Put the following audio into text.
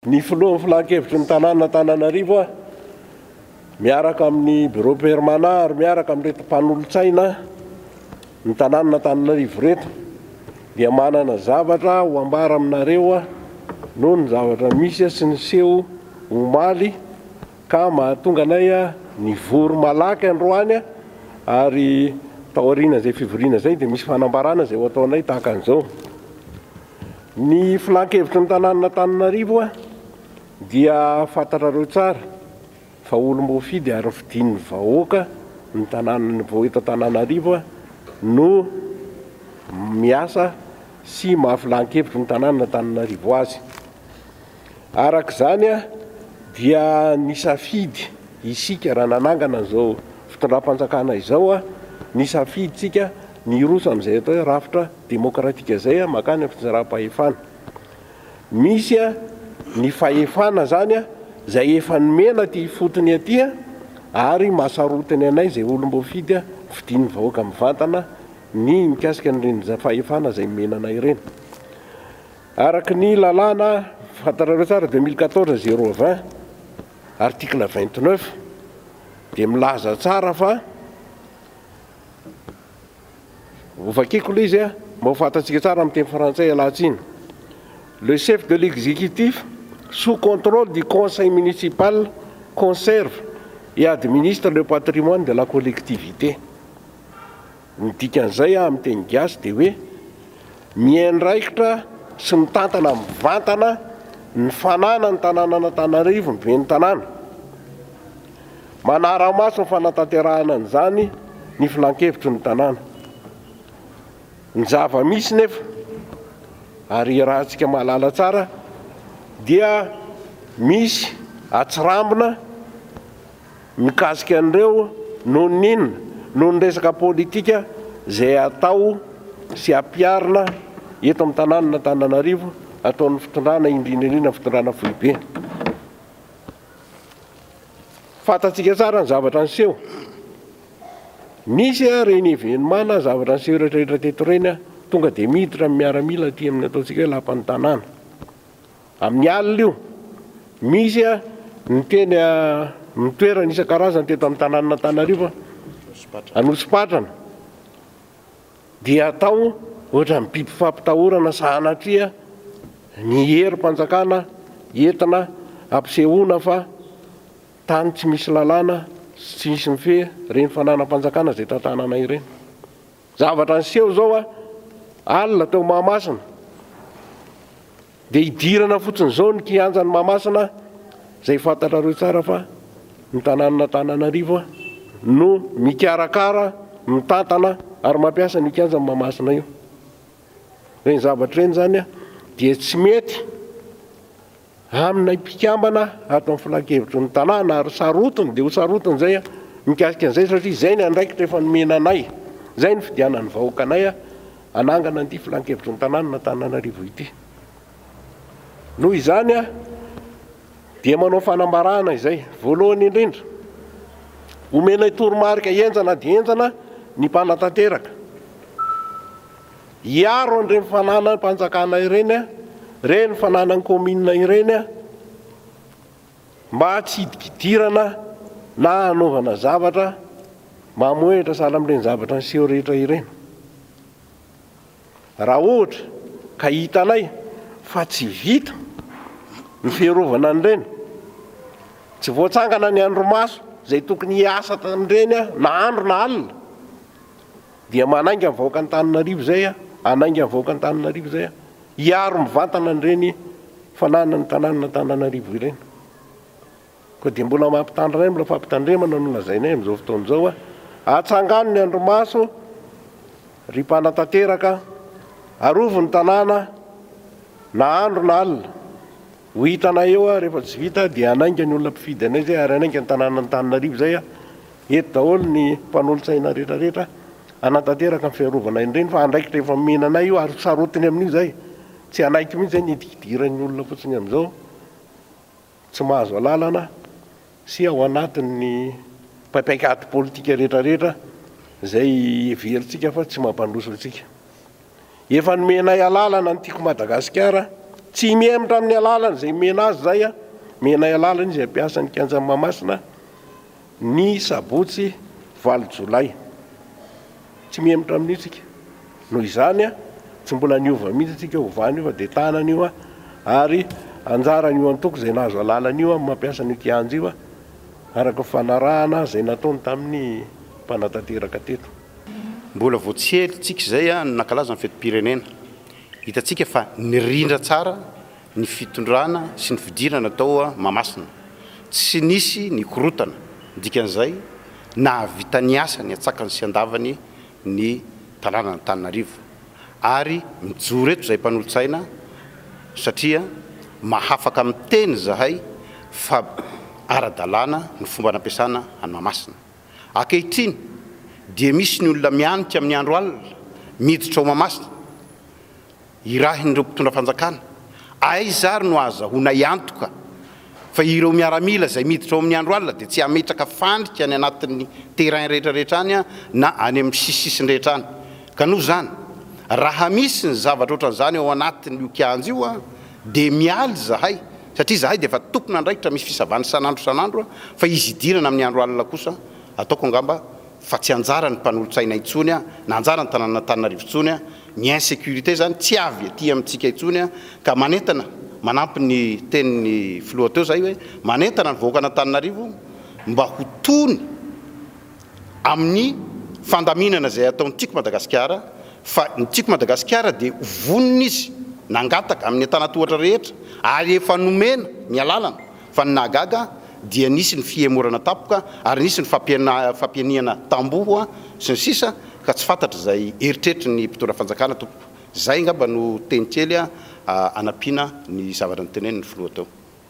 Ny filohan'ny filan-kevitry ny tanànan'Antananarivo aho miaraka amin'ny Bureau permanent ary miaraka amin'ireto mpanolotsaina ny tanànan'Antananarivo ireto dia manana zavatra ho ambara aminareo aho noho ny zavatra misy sy ny seho omaly ka mahatonga anay nivory malaky androany ary taorian'izay fivoriana izay dia misy fanambarana izay ho ataonay tahaka an'izao. Ny filankevitry ny tanànan'Antananarivo dia fantatrareo tsara fa olom-boafidy ary fidin'ny vahoaka ny tanànan'ny vao eto Antananarivo no miasa sy maha filankevitry ny tanànan'Antananarivo azy. Araka izany dia nisafidy isika raha nanangana izao fitondram-panjakana izao, nisafidintsika ny hiroso amin'izay atao hoe rafitra demokratika izay mankany amin'ny fitondram-pahefana. Misy ny fahefana izany izay efa nomena aty ifotony aty ary maha sarotiny anay izay olom-boafidy fidin'ny vahoaka mivantana ny mikasika an'ireny fahefana izay nomena anay ireny. Araka ny lalàna, fantatrareo tsara, 2014 020, article 29, dia milaza tsara fa, hovakiko ilay izy mba ho fantatsika tsara amin'ny teny frantsay ialahy-tsiny, Le chef de l'exécutif sous contrôle du conseil municipal conserve et administre le patrimoine de la collectivité. Ny dikan'izay amin'ny teny gasy dia hoe miandraikitra sy mitantana mivantana ny fananan'ny tanànan'Antananarivo ny ben'ny tanàna. Manara-maso ny fanatanterahana an'izany ny filankevitry ny tanàna. Ny zava-misy nefa ary iarahantsika mahalala tsara dia misy atsirambina. mikasika an'ireo noho ny inona? noho ny resaka politika izay atao sy ampiharina eto amin'ny tanànan'Antananarivo ataon'ny fitondrana indrindra indrindra ny fitondrana foibe. Fantatsika tsara ny zavatra niseho. Nisy ary ny evenimana zavatra niseho rehetrarehetra teto ireny tonga dia miditra ny miaramila aty amin'ny ataontsika hoe lapan'ny tanàna. Amin'ny alina io, misy ny teny amin'ny toerana isan-karazany teto amin'ny tanànan'Antananarivo, Anosipatrana dia atao ohatran'ny biby fampitahorana sahanatria ny herim-panjakana entina ampisehoana fa tany tsy misy lalàna sy tsy misy mifehy ireny fananam-panjakana izay tantanana ireny. Zavatra niseho izao alina teo Mahamasina. Dia hidirana fotsiny izao ny kianjan'i Mahamasina izay fantatrareo tsara fa ny tanànan'Antananarivo no mikarakara, mitantana ary mampiasa an'io kianjan'i Mahamasina io. Ireny zavatra ireny izany dia tsy mety amin'ny mpikambana ato amin'ny filankevitry ny tanàna ary sarotiny dia ho sarotiny izay mikasika an'izay satria izay ny andraikitra efa nomena anay, izay ny fidianan'ny vahoakanay hanangana an'ity filankevitry ny tanànan'Antananarivo ity. Noho izany dia manao fanambarana izay, voalohany indrindra, omenay toromarika henjana dia henjana ny mpanatanteraka. Hiaro an'ireny fananam-panjakana ireny, ireny fananan'ny kaominina ireny, Mba tsy hidikidirana na hanaovana zavatra mamohehitra sahala amin'ireny zavatra niseho rehetra ireny. Raha ohatra ka hitanay fa tsy vita ny fiarovana an'ireny, tsy voatsangana ny andrimaso izay tokony hiasa tamin'ireny na andro na alina, Dia manainga ny vahoaka Antananarivo izay a, hanainga ny vahoaka Antananarivo izay a, hiaro mivantana an'ireny fananana ny tanànan'Antananarivo ireny. Koa dia mbola mampitandrina mbola fampitandremana no lazainay amin'izao fotoana izao a, atsangano ny andrimaso ry mpanatanteraka, arovy ny tanàna na andro na alina, Ho hitanay eo aho rehefa tsy vita dia hanainga ny olona mpifidy anay izay ary hanainga ny tanànan'Antananarivo izay aho. Eto daholo ny mpanolotsaina rehetrarehetra hanatanteraka ny fiarovana an'i Reny fa andraikitra efa nomena anay io ary sarotiny amin'io izay. Tsy hanaiky mihitsy izay ny hidikidiran'ny olona fotsiny amin'izao tsy mahazo alalana sy ao anatin'ny paik'ady politika rehetrarehetra izay heverintsika fa tsy mampandroso antsika. Efa nomenay alalana ny Tiako Madagasikara, tsy mihemotra amin'ny alalana izay omena azy izay aho. Omenay alalana izy hampiasa ny kianjan'i Mahamasina ny sabotsy valo jolay. Tsy mihemotra amin'io isika. Noho izany, tsy mbola niova mihitsy isika ovan'io fa dia tanana io ary anjaran'io antoko izay nahazo alalana io amin'ny mampiasa an'io kianja io araka ny fanarahana izay nataony tamin'ny mpanatanteraka teto. Mbola vao tsy ela tsika izay no nankalaza ny fetim-pirenena. Hitantsika fa nirindra tsara ny fitondrana sy ny fidirana tao Mahamasina. Tsy nisy ny korontana, dikan'izay nahavita ny asany an-tsakany sy an-davany ny tanànan'Antananarivo. Ary mijoro eto izahay mpanolotsaina satria mahafaka miteny izahay fa ara-dalàna ny fomba nampiasana an'i Mahamasina. Ankehitriny dia misy ny olona mianika amin'ny andro alina miditra ao Mahamasina irahin'ireo mpitondra fanjakana. Aiza ary no ahazahoanay antoka fa ireo miaramila izay miditra ao amin'ny andro alina dia tsy hametraka fandrika any anatin'ny terrain rehetrarehetra any na any amin'ny sisisisiny rehetra any ka noho izany raha misy ny zavatra ohatran'izany ao anatin'io kianja io Dia mialy izahay, satria izahay dia efa tompon'andraikitra misy fisavana isan'andro isan'andro, fa izy hidirana amin'ny andro alina kosa, ataoko angamba fa tsy anjaran'ny mpanolotsaina intsony na anjaran'ny tanànan'Antananarivo intsony ny insécurité izany, tsy avy aty amintsika intsony, ka manentana, manampy ny tenin'ny filoha teo izahay hoe, manentana ny vahoakan'Antananarivo mba ho tony. amin'ny fandaminana izay ataon'ny Tiako Madagasikara fa ny Tiako Madagasikara dia vonona izy nangataka amin'ny antanatohatra rehetra ary efa nomena ny alalana fa ny nahagaga dia nisy ny fihemorana tampoka ary nisy ny fampihenihana tamboho sy ny sisa ka tsy fantatra izay eritreritry ny mpitondra fanjakana tompoko. Izay angamba no teny kely anampiana ny zavatra notenenin'ny filoha teo.